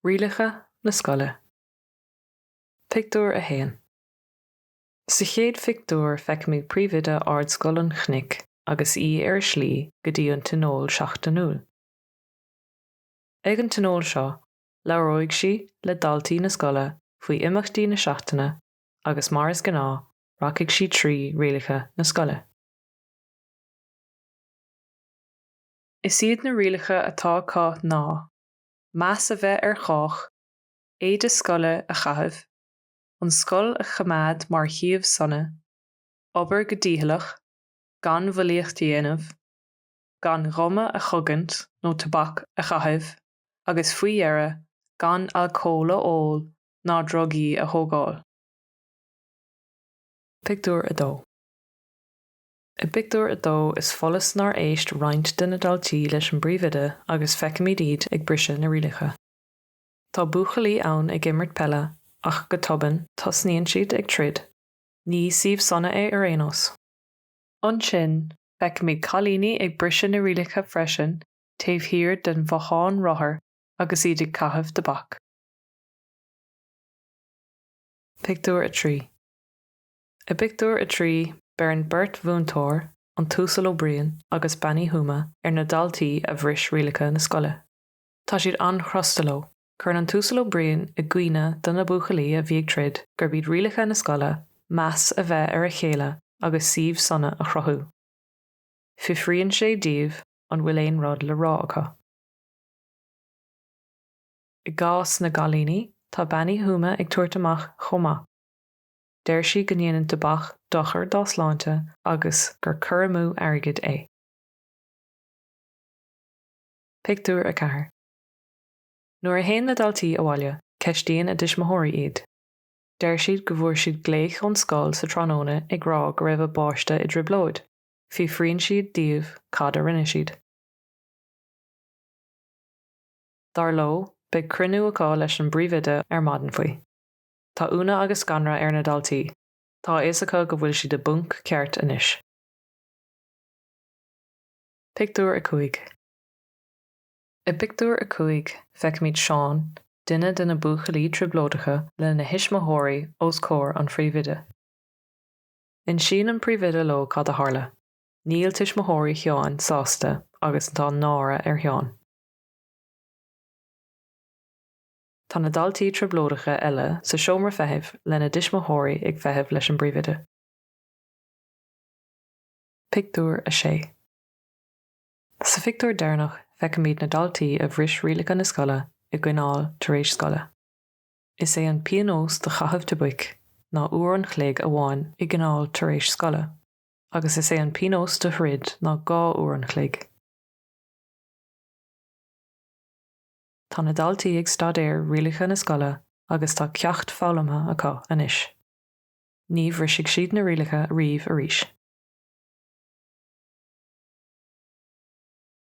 Rialacha na Scoile. Pictiúr 1 Sa chéad phictiúr feicimid Príomhoide Ardscoil an Chnoic agus í ar a slí go dtí an tionól seachtainiúil. Ag an tionól seo, labhróidh sí le daltaí na scoile faoi imeachtaí na seachtaine agus mar is gnáth, rachaidh sí trí rialacha na scoile. Is iad na rialacha atá acu ná, meas a bheith ar chách, éide scoile a chaitheamh, an scoil a choimeád mar shuíomh sona, obair go dícheallach, gan bhulaíocht a dhéanamh, gan ghuma a chogaint nó tobac a chaitheamh agus, faoi dheireadh, gan alcól a ól ná drugaí a thógáil. Pictiúr 2 I bpictiúr a dó is follas nár éist roinnt de na daltaí leis an bpríomhoide agus feicimid iad ag briseadh na rialacha. Tá buachaillí ann ag imirt peile ach go tobann tosnaíonn siad ag troid. Ní suíomh sona é ar aon nós. Ansin feicimid cailíní ag briseadh na rialacha freisin taobh thiar den bhothán rothar agus iad ag caitheamh tobac. Pictiúr 3 I bpictiúr a trí, beireann beirt mhúinteoir, an tUasal Ó Briain agus Bean Uí Thuama, ar na daltaí a bhris rialacha na scoile. Tá siad an-chrosta leo. Cuireann an tUasal Ó Briain i gcuimhne do na buachaillí a bhí ag troid gurb iad rialacha na scoile meas a bheith ar a chéile agus suíomh sona a chruthú. Fiafraíonn sé díobh an bhfuil aon rud le rá acu. I gcás na gcailíní, tá Bean Uí Thuama ag tabhairt amach chomh maith. Deir sí go ndéanann tobac dochar dá sláinte agus gur cur amú airgid é. Pictiúr 4 Nuair a théann na daltaí abhaile, ceistíonn a dtuismitheoirí iad. Deir siad go bhfuair siad glaoch ón scoil sa tráthnóna ag rá go raibh a bpáiste i dtrioblóid. Fiafraíonn siad díobh cad a rinne siad. Dar leo, beidh cruinniú acu leis an bpríomhoide ar maidin faoi. Tá ionadh agus scanradh ar na daltaí, tá a fhios acu go bhfuil siad i bponc ceart anois. Pictiúr 5 I bpictiúr a cúig, feicimid Seán, duine de na buachaillí trioblóideacha, lena thuismitheoirí os comhair an phríomhoide. Insíonn an príomhoide leo cad a tharla. Níl tuismitheoirí Sheáin sásta agus tá náire ar Sheán. Tá na daltaí trioblóideacha eile sa seomra feithimh lena dtuismitheoirí ag feitheamh leis an bpríomhoide. Pictiúr 6 Sa phictiúr deireanach feicimid na daltaí a bhris rialacha na scoile i gcoinneáil tar éis scoile. Is é an píonós do chaitheamh tobaic ná uair an chloig amháin i gcoinneáil tar éis scoile agus is é an píonós do throid ná dhá uair an chloig. Tá na daltaí ag staidéar rialacha na scoile agus tá ceacht foghlamtha acu anois. Ní bhrisfidh siad na rialacha riamh arís.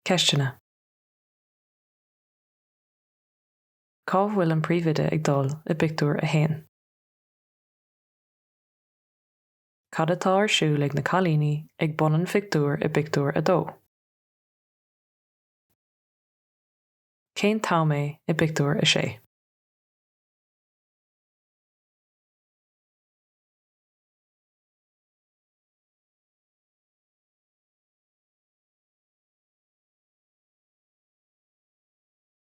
Ceisteanna. Cá bhfuil an príomhoide ag dul i bpictiúr a haon? Cad atá ar siúl ag na cailíní ag bun an phictiúir i bpictiúr a dó? Cén t-am é i bpictiúr a sé?